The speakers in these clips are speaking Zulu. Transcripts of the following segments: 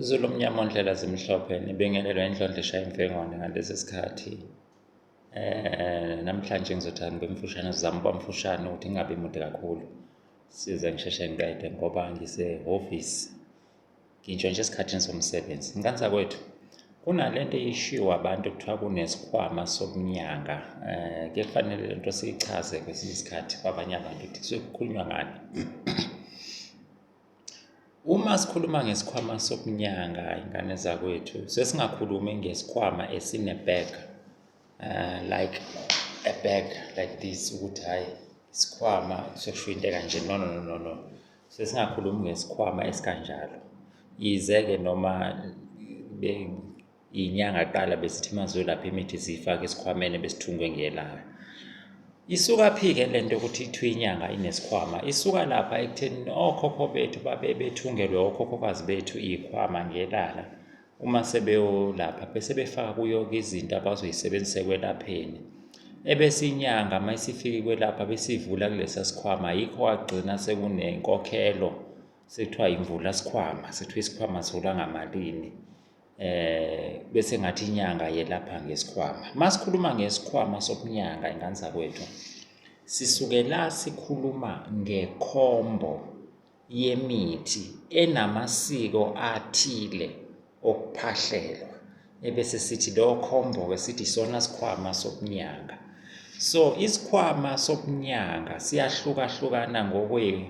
Izulu omnyama ondlela zimhlophe nibingelelwa inhlondlo eshaya imfengwane ngalesi sikhathi eh namhlanje ngizothanda ngibe mfushane sizama ukuba mfushane ukuthi ngingabi mude kakhulu size ngisheshe ngiqede ngoba ngisehhovisi ngintshontshe esikhathini somsebenzi nkansa kwethu kunale nto eyishiwo abantu kuthiwa kunesikhwama sokunyanga um eh, ke kufanele le nto siyichaze kwesinye isikhathi kwabanye abantu ukuthi kusuke kukhulunywa ngani Uma sikhuluma ngesikhwama sokunyanga ingane zakwethu sesingakhulumi ngesikhwama esine-bag uh, like a bag like this ukuthi hhayi isikhwama sesho into ekanje no no no no sesingakhulumi ngesikhwama esikanjalo yize-ke noma Inyanga qala besithi mazolapha imithi ziyifake esikhwameni besithungwe ngelayo. Isuka phike lento ukuthi ithiwe inyanga inesikhwama. Isuka lapha ekutheni okhokho bethu babe bethungelwe okhokhokazi bethu ikhwama ngelala. Uma sebeyolapha bese befaka kuyo izinto abazoyisebenzisa kwelapheni. Ebese inyanga mayisifike kwelapha besivula kulesa sikhwama yikho wagcina sekunenkokhelo sekuthiwa imvula sikhwama sekuthiwa isikhwama sola ngamalini. eh bese ngathi inyanga yelapha ngesikhwama masikhuluma ngesikhwama sokunyanga ingane zakwethu sisuke la sikhuluma ngekhombo yemithi enamasiko athile okuphahlelwa ebese sithi lo khombo ke sithi sona sikhwama sokunyanga so isikhwama sokunyanga siyahlukahlukana ngokwe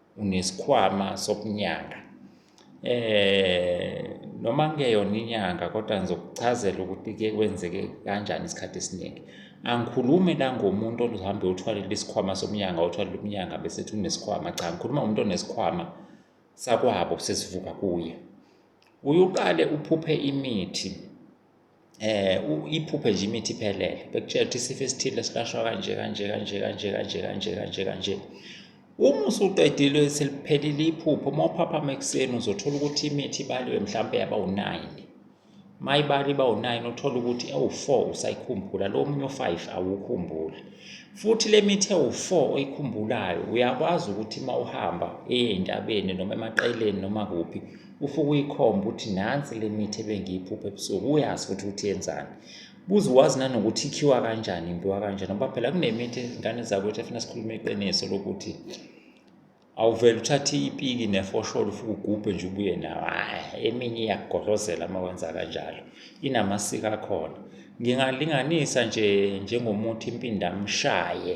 unesikhwama sokunyanga eh noma ngeyona inyanga kodwa ngizokuchazela ukuthi ke kwenzeke kanjani isikhathi esiningi angikhulumi la ngomuntu oluhambe uthwalele isikhwama somnyanga uthwalele umnyanga bese ethi unesikhwama cha ngikhuluma ngomuntu onesikhwama sakwabo sesivuka kuye uyuqale uphuphe imithi eh iphuphe nje imithi iphelele bekutshela ukuthi isifo esithile silashwa kanje kanje kanje kanje kanje kanje kanje kanje uma usuqedile seliphelile iphupho uma uphaphama ekuseni uzothola ukuthi imithi ibaliwe mhlawumbe yaba u-9 uma ibali iba u-9 uthola ukuthi ewu-4 usayikhumbula lo omunye u-5 awukhumbuli futhi le mithi ewu-4 oyikhumbulayo uyakwazi ukuthi uma uhamba eye entabeni noma emaqeleni noma kuphi ufuke uyikhomba ukuthi nansi le mithi ebengiyiphupha ebusuku uyazi futhi ukuthi yenzani buze wazi nanokuthi ikhiwa kanjani impiwa kanjani ngoba phela kunemithi izingane zakwethu efuna sikhulume iqiniso lokuthi awuvele uthathe ipiki nefosholo ufuke ugubhe nje ubuye nawo hhayi eminye iyakugodlozela uma wenza kanjalo inamasiko akhona ngingalinganisa nje njengomuthi impindamshaye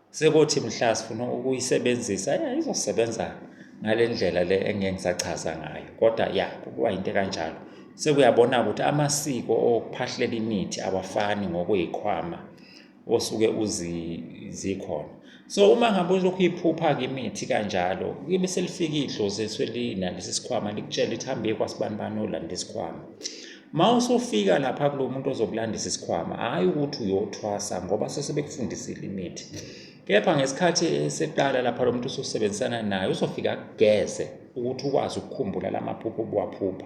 Sekuthi mhla sifuna ukuyisebenzisa ya izosebenza ngale ndlela le engeke ngisachaza ngayo kodwa ya kuba into kanjalo sekuyabona ukuthi amasiko okuphahlela imithi awafani ngokuyikhwama osuke uzikhona so uma ngabe ulokhu uyiphupha ke imithi kanjalo kube selifika idlozi eswelina lesi sikhwama likutshela ukuthi hambe kwasibani bani olanda isikhwama Uma usufika lapha kulo muntu ozokulandisa isikhwama, hhayi ukuthi uyothwasa ngoba sesebekufundisile imithi. Kepha ngesikhathi eseqala lapha lo muntu usosebenzisana naye uzofika kugeze ukuthi ukwazi ukukhumbula la maphupho obuwaphupha.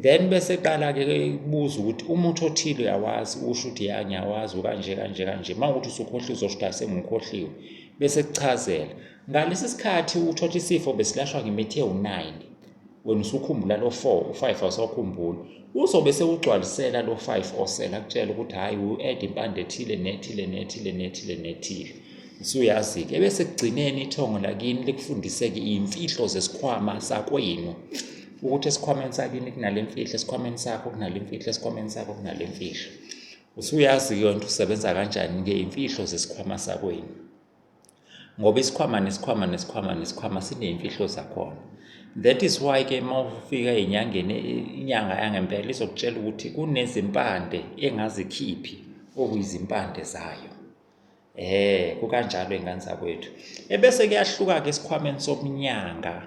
Then bese qala-ke kubuza ukuthi umuthi othile uyawazi, usho ukuthi ya ngiyawazi ukanje kanje kanje. Uma ukuthi usukhohliwe uzosho ukuthi asengikhohliwe, bese kuchazela. Ngalesi sikhathi uthotha isifo besilashwa ngemithi ewu-9 wena usukhumbula lo 4 u-5 awusakhumbuli uzobe sewugcwalisela lo 5 osele akutshela ukuthi hhayi u-ed impande ethile nethile nethile nethile nethile usuyazi-ke ebese kugcineni ithongo lakini likufundiseke iy'mfihlo zesikhwama sakwenu ukuthi esikhwameni sakini kunale mfihlo esikhwameni sakho kunale mfihlo esikhwameni sakho kunale mfihlo usuyazi-ke yonto usebenza kanjani-ke iy'mfihlo zesikhwama sakwenu ngoba isikhwama nesikhwama nesikhwama nesikhwama sineyimfihlo zakhona that is why ke uma ufika enyangeni inyanga yangempela izokutshela ukuthi kunezimpande engazikhiphi okuyizimpande zayo eh kukanjalo ingane zakwethu ebese kuyahluka ke esikhwameni somnyanga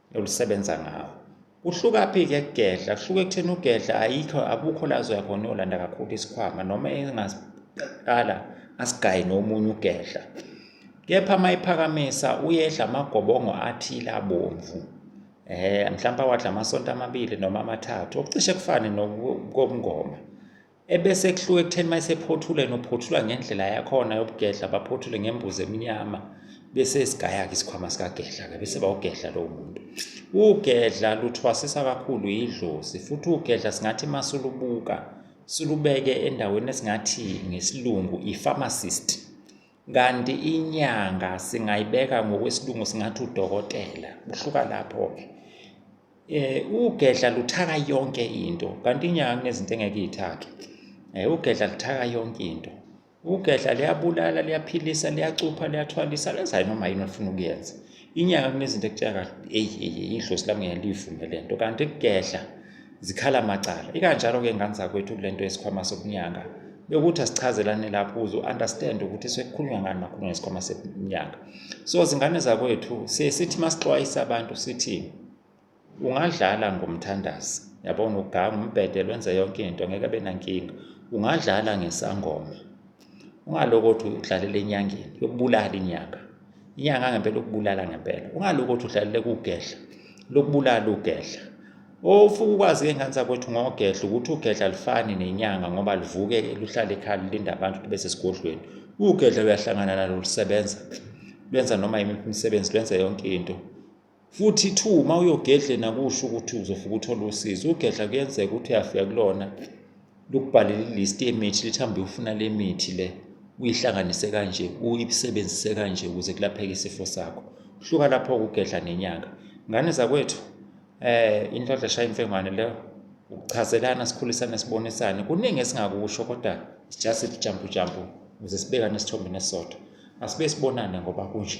olusebenza ngawo kuhlukaphi ke kugedla kuhluke ekutheni ugedla ayikho abukho la zoya khona yolanda kakhulu isikhwama noma engaqala asigaye nomunye ugedla kepha uma iphakamisa uyedla amagobongo athile abomvu eh mhlawumbe awadla amasonto amabili noma amathathu okucishe kufane nokomngoma ebese kuhluka ekutheni uma esephothule nophothula ngendlela yakhona yobugedla baphothule ngembuzi emnyama bese sigaya-ke isikhwama sikagedla-ke bese bawugedla lowo muntu ugedla luthwasisa kakhulu yidlozi futhi ugedla singathi uma sulubuka silubeke endaweni esingathi ngesilungu i-pharmacist kanti inyanga singayibeka ngokwesilungu singathi udokotela kuhluka lapho-ke eh ugedla luthaka yonke into kanti inyanga kunezinto engeke ithake eh ugedla luthaka yonke into ugedla liyabulala liyaphilisa liyacupha liyathwalisa lenza noma yini ofuna ukuyenza inyanga kunezinto ekutshela kahle eyi eyi idlosi lami ngeke liyivume le nto kanti kugedla zikhala macala ikanjalo-ke ngane zakwethu kule nto yesikhwama sokunyanga bekuthi asichazelane lapho uze u-understand ukuthi sekukhulunywa ngani makhulunywa ngesikhwama seminyaka so zingane zakwethu siye sithi masixwayisa abantu sithi ungadlala ngomthandazi yabona uganga umbhede lwenze yonke into ngeke abe nankinga ungadlala ngesangoma ungaloko ukuthi udlalela enyangeni yokubulala inyanga inyanga ngempela ukubulala ngempela ungaloko ukuthi udlalela kugedla lokubulala ugedla ofuke ukwazi ke ngane zakwethu ngogedla ukuthi ugedla lifani nenyanga ngoba livuke luhlale ekhaya lilinda abantu ukuthi bese sigodlweni ugedla uyahlangana nalo lusebenza lwenza noma yimiphi imisebenzi lwenza yonke into futhi two uma uyogedle nakusho ukuthi uzofika uthole usizo ugedla kuyenzeka ukuthi uyafika kulona lukubhalele ilist yemithi lithi hambe ufuna le mithi le uyihlanganise kanje uyisebenzise kanje ukuze kulapheke isifo sakho hluka lapho kugedla nenyanga ngane zakwethu eh inhlanhla shaya imfengwane leyo ukuchazelana sikhulisane sibonisane kuningi esingakusho kodwa just jump jump ukuze sibekane isithombe nesisodwa asibe sibonane ngoba kunje